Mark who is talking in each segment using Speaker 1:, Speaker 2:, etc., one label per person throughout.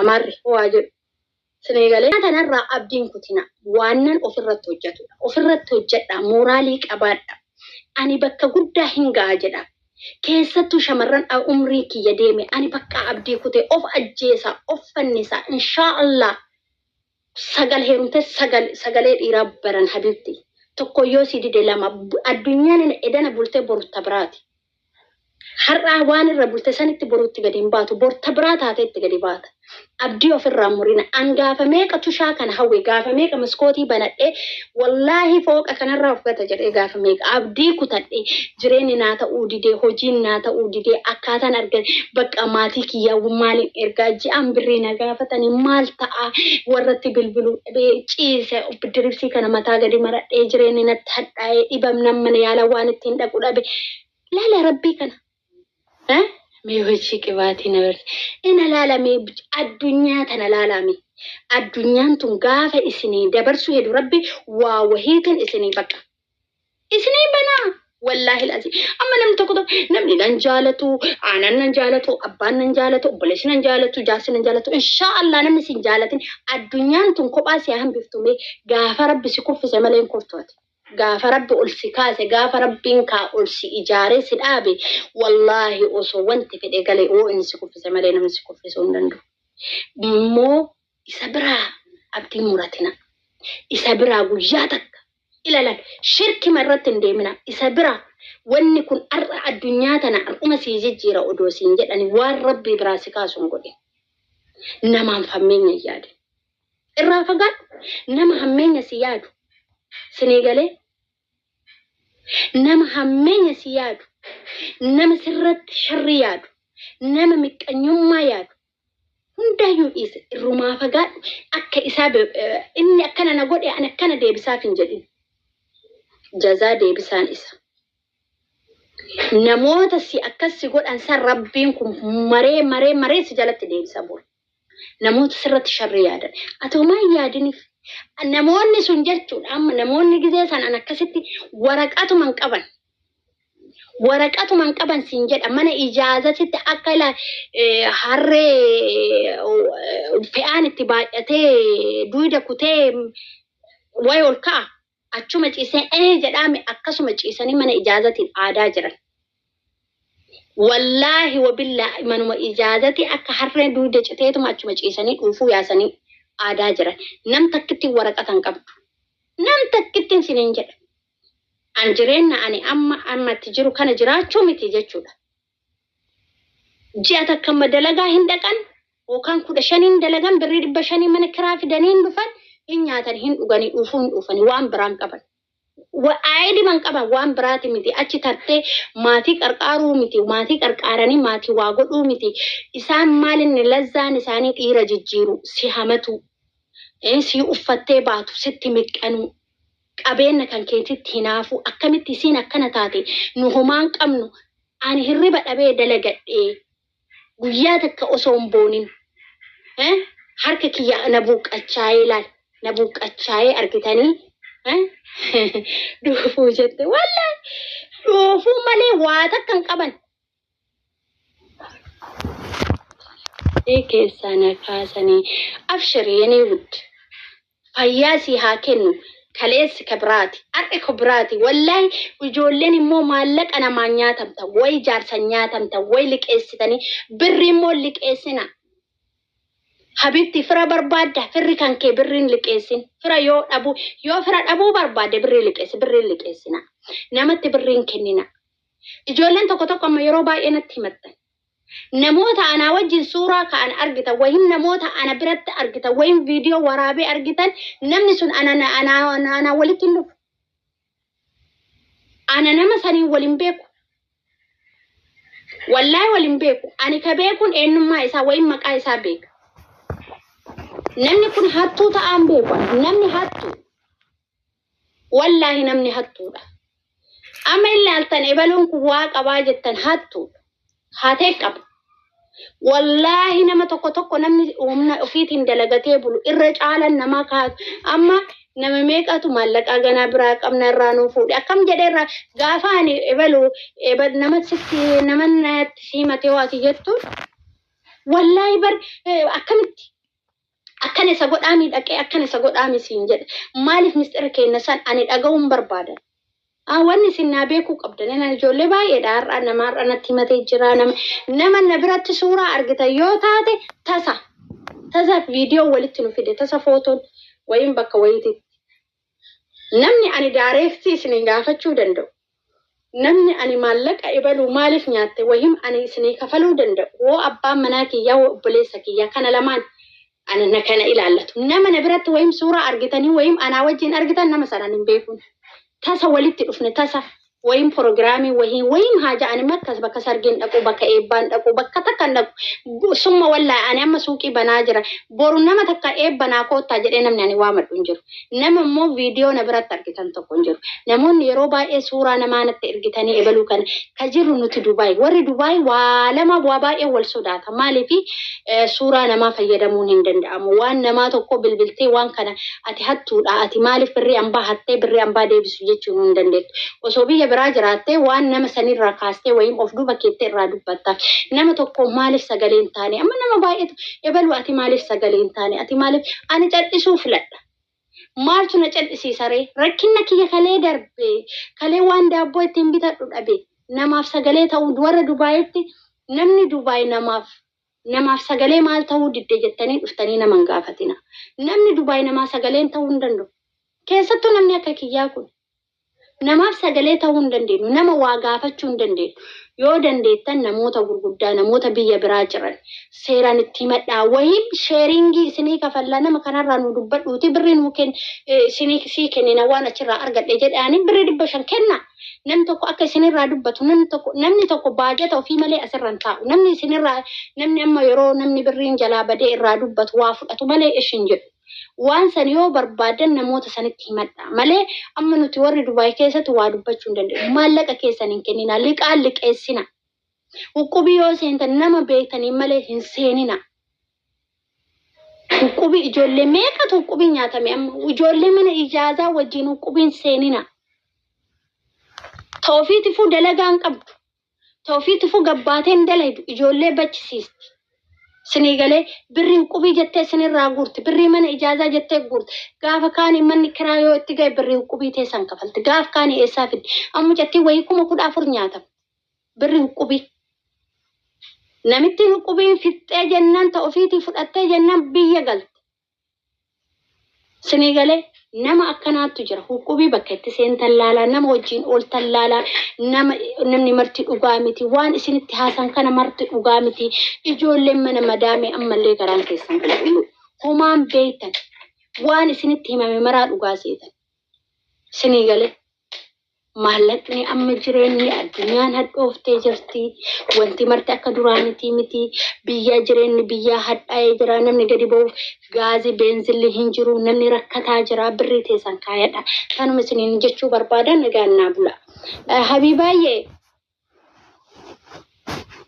Speaker 1: Amaarri waa jedhu isin eegalee. Kana kanarraa abdii hin kutinaa. Waannan ofirratti hojjatudha. Ofirratti hojjadhaa. Mooraalii qabaadhaa. Ani bakka guddaa hin ga'a jedhaa. Keessattuu shamarran a umriin kiyya deeme ani bakka abdii kute of ajjeesaa, of fannisaa. Inshaa Allaah sagal heerumte sagal sagalee dhiiraa baran habibti tokko yoo si dide lama addunyaan edana bultee borta biraati har'aa waan irra bulte sanitti borutti gadi hin baatu borta biraa taatee itti gadi baata abdii ofirraa murina an gaafa meeqa tushaa kana hawwe gaafa meeqa maskootii banadhee Wallaahi fooqa kanarraa of gata jedhee gaafa meeqa abdii kutadhe jireenyi naa ta'uu didee hojiin naa ta'uu didee akkaataan arga bakka maatii kiyyaa maalin ergaa ji'aan birrii na gaafatanii maal ta'a warratti bilbiluu dhabee ciise biddiriibsii kana mataa gadi maradhee jireenyi natti hadhaa'ee dhibamnaan mana yaalaa waan ittiin dhaqu dhabe laala rabbii kana Eh? Mee hojii qibaatii na barsi. Ina laalame addunyaa tana laalame. Addunyaan tun gaafa isinii dabarsuu hedu rabbi waa wahiitiin isinii baqa. Isinii banaa. Wallaahi lazi. Amma namni tokko tokko namni nan jaalatu, aanan nan jaalatu, abbaan nan jaalatu, obboleessi nan jaalatu, jaarsi nan jaalatu. Inshaa Allah namni isin jaalatin addunyaan tun kophaa si hambiftu mee gaafa rabbi si kuffise malee hin kuftu ati. Gaafa rabbi ol si kaase gaafa rabbiin kaa ol si ijaaree si dhaabe wallaahi osoo wanti fedhe gale yoo inni si kuffise malee namni si kuffisuu hin danda'u immoo isa biraa abdii hin muratinaa isa biraa guyyaa takka ilalan shirkima irratti hin deeminaa isa biraa wanni kun har'a addunyaa tana har'uma sii jijjiira odoo siin jedhani waan rabbii biraa si kaasu hin godhin namaan fammeenya hin yaadin Irraa fagaadhu nama hammeenya si yaadu sinii galee nama hammeenya si yaadu nama sirratti sharrii yaadu nama miqqanyummaa yaadu hundaayyuu dhiise irrumaa fagaadhu akka isaa be- eh, inni akkana na godhe ani akkana deebisaaf hin jedhin jazaa deebisaan isa namoota si akkas si godhan san rabbiin kun maree maree maree si jalatti deebisa bor Namoota sirratti sharri yaadan. Ati homaa hin yaadiniif. Namoonni sun jechuudha amma namoonni gizee san an akkasitti waraqatuma hin qaban. Waraqatuma hin qaban siin jedha mana ijaazatitti akka ila eh, harree eh, fe'aan itti baay'atee duwida kutee way ol ka'a. Achuma ciisee ee jedhaame akkasuma ciisanii mana ijaazatiin aadaa jiran. Wallaahi wabillaahi manuma ijaazatii akka harree duude citeetuma achuma ciisanii dhuufuu yaasanii aadaa jiran. Nam takkittiin waraqata hin qabdu. Nam takkittiin siniin jedha. An jireenna ani amma amma itti jiru kana jiraachuu miti jechuudha. ji'a takka amma dalagaa hin dhaqan yookaan kudha shanii hin dalagan birrii dhibba shanii mana kiraa fidanii hin dhufan hin nyaatan hin dhuganii dhuufuu hin dhuufanii waan biraan qaban. Aayidiman qaban waan biraati miti achi tartee maatii qarqaaruu miti maatii qarqaaranii maatii waa godhuu miti isaan maalinni lazzaan isaanii dhiira jijjiiru si hamatuu eh, si uffattee baatu sitti miqqanuu qabeenna kan keetitti hinaafuu akkamitti isiin akkana taate nu homaan qabnu Ani hirriba dhabee dalagadhee guyyaa takka osoo hin boonin eh, harka kiyya na buuqqachaayee laal na buuqqachaayee argitanii eh, dhoofuu jette wallahi dhoofuu malee waa takka hin qaban. Ee keessaa na kaasanii abshir yenee wudd. Fayyaa sii haa kennu kaleessi ka biraati ar'i ka biraati wallahi ijoolleen immoo maallaqa namaan nyaatamta way jaarsan nyaatamta way liqeessitanii birri immoo liqeessina habibti fira barbaadda firri kan kee birriin liqeessin fira yoo dhabuu yoo fira dhabuu barbaadde birrii liqeessi birriin liqeessina namatti birriin kennina ijoolleen tokko tokko amma yeroo baay'ee natti himattan Namoota anaa wajjin suuraa ka'an argitan ykn namoota ana biratti argitan ykn viidiyoo waraabee argitan namni sun ana na- ana- ana- anaa walitti hin dhufu. Ana nama saniin wal hin beeku. Wallaahi wal hin beeku. Ani ka beekuun eenyummaa isaa ykn maqaa isaa beeka. Namni kun hattuu ta'aan beeku. Namni hattuu. Wallaahi namni hattuudha. Amma ilaaltan ebaluun kun waa qabaa jettan hattuudha. Hatee qaba. Wallaahi nama tokko tokko namni humna ofiitiin dalagatee bulu irra caalan namaa kaatu. Amma nama meeqatu maallaqaa ganaa biraa qabna irraa nuu fuudhe. Akkam jedhee irraa gaafa ani ebalu ebal nama sitti nama natti simatee waati jettuun wallaahi bar eh, akkamitti akkana isa godhaamii dhaqee akkana isa godhaamii siin jedhe maaliif misxira keenya san ani dhaga'uun barbaadan. Ah, wanni isin naa beekuu qabdan ani ijoollee baay'eedha har'a nama har'a natti himatee jira nama nama na biratti suuraa argitan yoo taate tasa tasa viidiyoo walitti nu fide tasa footoon wayiin bakka wayiititti Namni ani daareektii isiniin gaafachuu danda'u, namni ani maallaqa ibaluu maaliif nyaatte wahim ani isinii kafaluu danda'u woo abbaan manaa kiyyaa woo obboleessa kiyyaa kana lamaan ana na kana ilaallatu. Nama na biratti wahim suuraa argitanii wahim anaa wajjiin argitan nama sanan hin beekun. Tasa walitti dhufne tasa. woyim porogiraamii wohiin woyim haa ja'ani markas bakka sargiin dhaqu bakka eebbaan dhaqu bakka takka hin dhaqu summa wallahi ani amma suuqii banaa jira boru nama takka eebba naa koottaa jedhee namni ani waamadhu hin jiru nama immoo viidiyoo na biratti argitan tokko hin jiru namoonni yeroo baay'ee suuraa namaa natti ergitanii ebaluu kana ka jirru nuti dubaay warri dubaay waa lama waa baay'ee wal sodaata maaliif Suuraa namaa fayyadamuun hin danda'amu. Waan namaa tokkoo bilbiltee waan kana ati hattuudha, ati maaliif birrii ambaa hattee birrii ambaa deebisi jechuu nu hin dandeettu. Osoo biyya biraa jiraattee waan nama sanirraa kaastee wayiim of duuba keettee irraa dubbatta. Nama tokkoo maaliif sagalee hin taane? Amma nama baay'eetu ebalu ati maaliif sagalee hin taane? Ati maaliif? Ani cadhisuu filadha. Maaltu na cal'isiisa ree? Rakkinna kiyya kalee darbe, kalee waan daabboo ittiin bitadhu dhabe, namaaf sagalee ta'uu, warra Dubaayitti namni Dubaay namaaf, namaaf sagalee maal ta'uu didde jettanii dhuftanii nama hin gaafatinaa. Namni Dubaay namaa sagalee hin ta'uu hin danda'u. Keessattuu namni akka kiyyaa kun. Namaaf sagalee ta'uu hin dandeenyu. Nama waa gaafachuu hin dandeenyu. Yoo dandeettan namoota gurguddaa, namoota biyya biraa jiran seeraan itti himadhaa. Wahiin sheeringii isinii kafallaa nama kanarraa nuu dubbadhuutii birrii nuu kenni isinii sii kennina waan achirraa argadhe jedhaanii birrii dhibba shan kennaa. Namni tokko akka isinirraa dubbatu namni tokko namni tokko baajata ofii malee asirra hin taa'u. Namni isinirraa namni amma yeroo namni birriin jalaa badee irraa dubbatu waa fudhatu malee ish hin jedhu. Waan san yoo barbaaddan namoota sanitti himadhaa. Malee amma nuti warri Dubaay keessatti waa dubbachuu hin dandeenyu. Maallaqa keessan hin kenninaa, liqaa hin liqeessinaa. Uqqubii yoo seentan nama beektaniin malee hin seeninaa. Uqqubii ijoollee meeqatu uqqubii nyaatame amma? Ijoollee mana ijaazaa wajjin uqqubiin seeninaa. Ta ofiitifuu dalagaa hin qabdu. Ta ufii tufuu gabbaateen hin dalaydu ijoollee bachisiisti. Sinii galee birrii huqqubii jettee sinirraa guurti birrii mana ijaazaa jettee guurti gaafa kaani manni kiraa yoo itti gahe birrii huqqubii teessan kafalti gaaf kaani eessaa fiddi amma mucattiin wayii kuma kudha afur nyaatamti birrii huqqubii. Namittiin huqqubiin fixxee jennaan ta ufiitii fudhattee jennaan biyya galte. Sinii galee nama akkanaattu jira. Huqubii bakka itti seentan laalaa, nama wajjin ooltan laalaa, nama namni marti dhugaa miti, waan isinitti haasan kana marti dhugaa miti. Ijoolleen mana madaamee ammallee garaan keessan qulqulluu. Homaan beektan waan isinitti himame maraa dhugaa seetan. Sinii galee. Maallaqni amma jireenni addunyaan hadhooftee jirti. Wanti marti akka duraanitii miti. Biyyaa jireenni biyyaa hadhaa'ee jira. Namni gadi ba'uuf gaazii beenzilli hin jiru. Namni rakkataa jira. Birrii teessan kaayadha. Kanuma isiniin jechuu barbaada nagaan naa bula. Habiibaayyee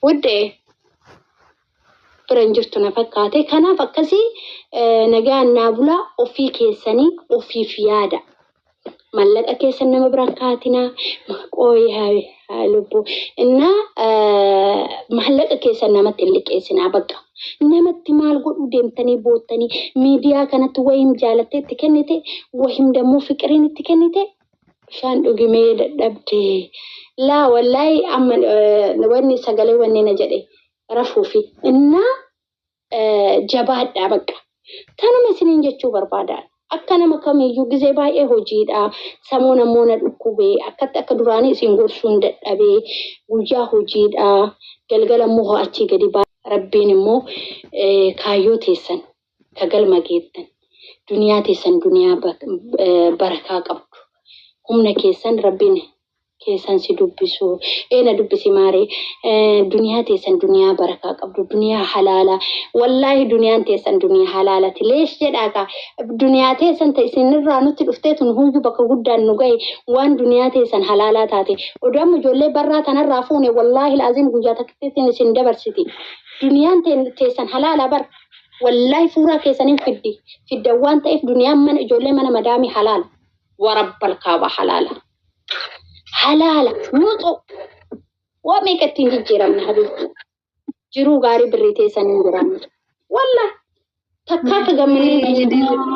Speaker 1: Wuddee bira hin jirtu na fakkaate. Kanaaf akkasii eh, nagaan naa bulaa ofii keessanii ofiif yaada. Mallaqa keessan nama bira hin kaatinaa. Ma- Qooyi haa- haa lubbuu. Innaa eh, maallaqa keessan namatti hin liqeessinaa bakka. Namatti maal godhuu deemtanii boottanii miidiyaa kanatti wayim jaalattee itti kennite wayim dammoo fiqiriin itti kennite Bishaan dhugi mee dadhabde. Laa wallahi amma eh, wanni sagalee wanni na jedhe rafuufi innaa eh, jabaadhaa bakka. Kanuma isiniin jechuu barbaada. Akka nama kamiyyuu gizee baay'ee hojiidha. Samuun ammoo na dhukkube. Akkatti akka duraanii isin gorsuun dadhabe. Guyyaa hojiidha. Galgala immoo ho'achii gadi ba'a. Rabbiin immoo eh, kaayyoo teessan ka galma geettan, duniyaa teessan duniyaa barakaa qabdu, humna keessan Rabbiin keessan si dubbisu, ee na dubbisi maaree, duniyaa teessan duniyaa barakaa qabdu, duniyaa halaalaa, wallaahi duniyaan teessan duniyaa halaalati, leesh jedhaa kaa, duniyaa teessan ta isin irraa nutti dhuftee tun huuyyuu bakka guddaan nu gahe, waan duniyaa teessan halaalaa taate, odoo amma ijoollee barraa tana irraa fuune wallaahil aziim guyyaa takkittiitiin isin dabarsiti, duniyaan teessan halaalaa bar. Wallaahi suuraa keessaniin fiddi fidda waan ta'eef duniyaan mana ijoollee mana madaamii halaala. Warabbal kaaba halaala. Halaala nuuxuu. Waa meeqa ittiin jijjiiramne habiibti. Jiruu gaarii birrii teessaniin jiraanne. Wallaahi takkaa akka gammadee na jijjiiramne.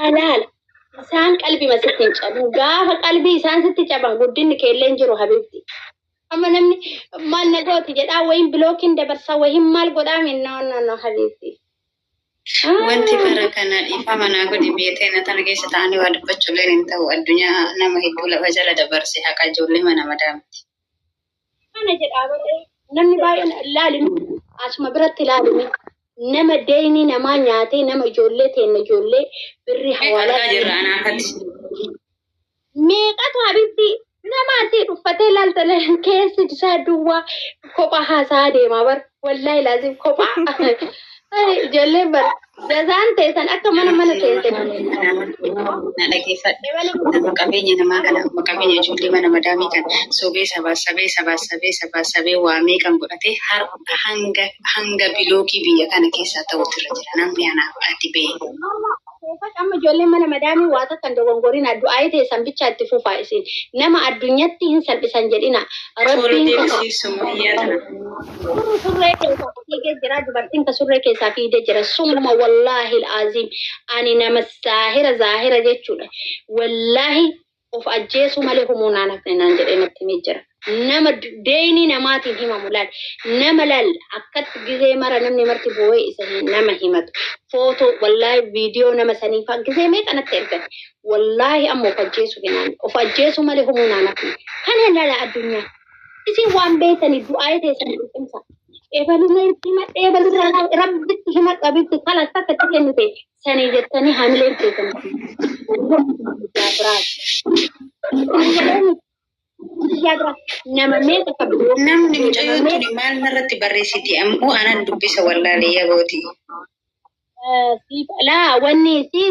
Speaker 1: halaala. Isaan qalbima sitti hin caban. Gaafa qalbii isaan sitti caban guddinni keellee hin jiru habiibti. Amma namni maal na gooti jedhaa wayin bilookiin dabarsaa wayin maal godhaa min no no no habiibti.
Speaker 2: Wanti bara kana dhiifama naa godhi beetee na tana keessa ta'anii waa dubbachuulleen hin ta'u addunyaa nama hedduu lafa jala dabarse haqa ijoollee mana madaamti. kana
Speaker 1: jedhaa baree namni baay'een laalimi asuma biratti laalimi nama deeyni namaa nyaatee nama ijoollee teenna ijoollee birri hawaalaa
Speaker 2: meeqatu
Speaker 1: habitti nama asii dhuffatee laaltale keessi isaa duwwaa kophaa haasaa deemaa bara. Wallahi laazim kophaa ijoolleen bar jazaan teessan akka mana mana teesse.
Speaker 2: Na dhaggeeffadhe nama qabeenya namaa kana amma qabeenya ijoollee mana madaamii kan sobee sabaa sabee sabaa sabee sabaa sabee waamee kan godhate har'a hanga hanga bilookii biyya kana keessaa ta'utu irra jira namni anaaf ati bee. Toofaq amma
Speaker 1: ijoolleen mana madaamii waa takka hin dogongorinaa du'aa'ii teessan bichaa itti fufaa isin nama addunyatti hin salphisan jedhinaa rabbiin qofa Toora deebisii sumayyaa tana. Surri surree keessaa ka fiigee jira dubartiin ka surree keessaa fiigde jira summa wallaahil aziim ani nama saahira zaahira jechuudha wallaahi of ajjeesuu malee humuu naan hafne naan jedhee natti himee jira. Nama deeynii namaatiin himamu laal. Nama laal akkatti gizee mara namni marti boo'ee isa hi- nama himatu. Footoo wallaahi viidiyoo nama sanii faa gizee meeqa natti ergan. Wallaahi amma of ajjeesuu hinaan of ajjeesuu malee humuu naan hafne. Kana lala addunyaa. Isin waan beektanii du'aa'ee teessan qulqulleessaa. Ebaluma itti himadhe ebalirraa haa- rabbitti himadhu abitti kalas takka itti kennite Sanii jettanii hamileen keessan nama meeqa qabdu? Namni mucayyoo
Speaker 2: tuni maal narratti barreessiti ammoo anan dubbisa wallaalee
Speaker 1: yabooti. Siif alaa
Speaker 2: wanni isii.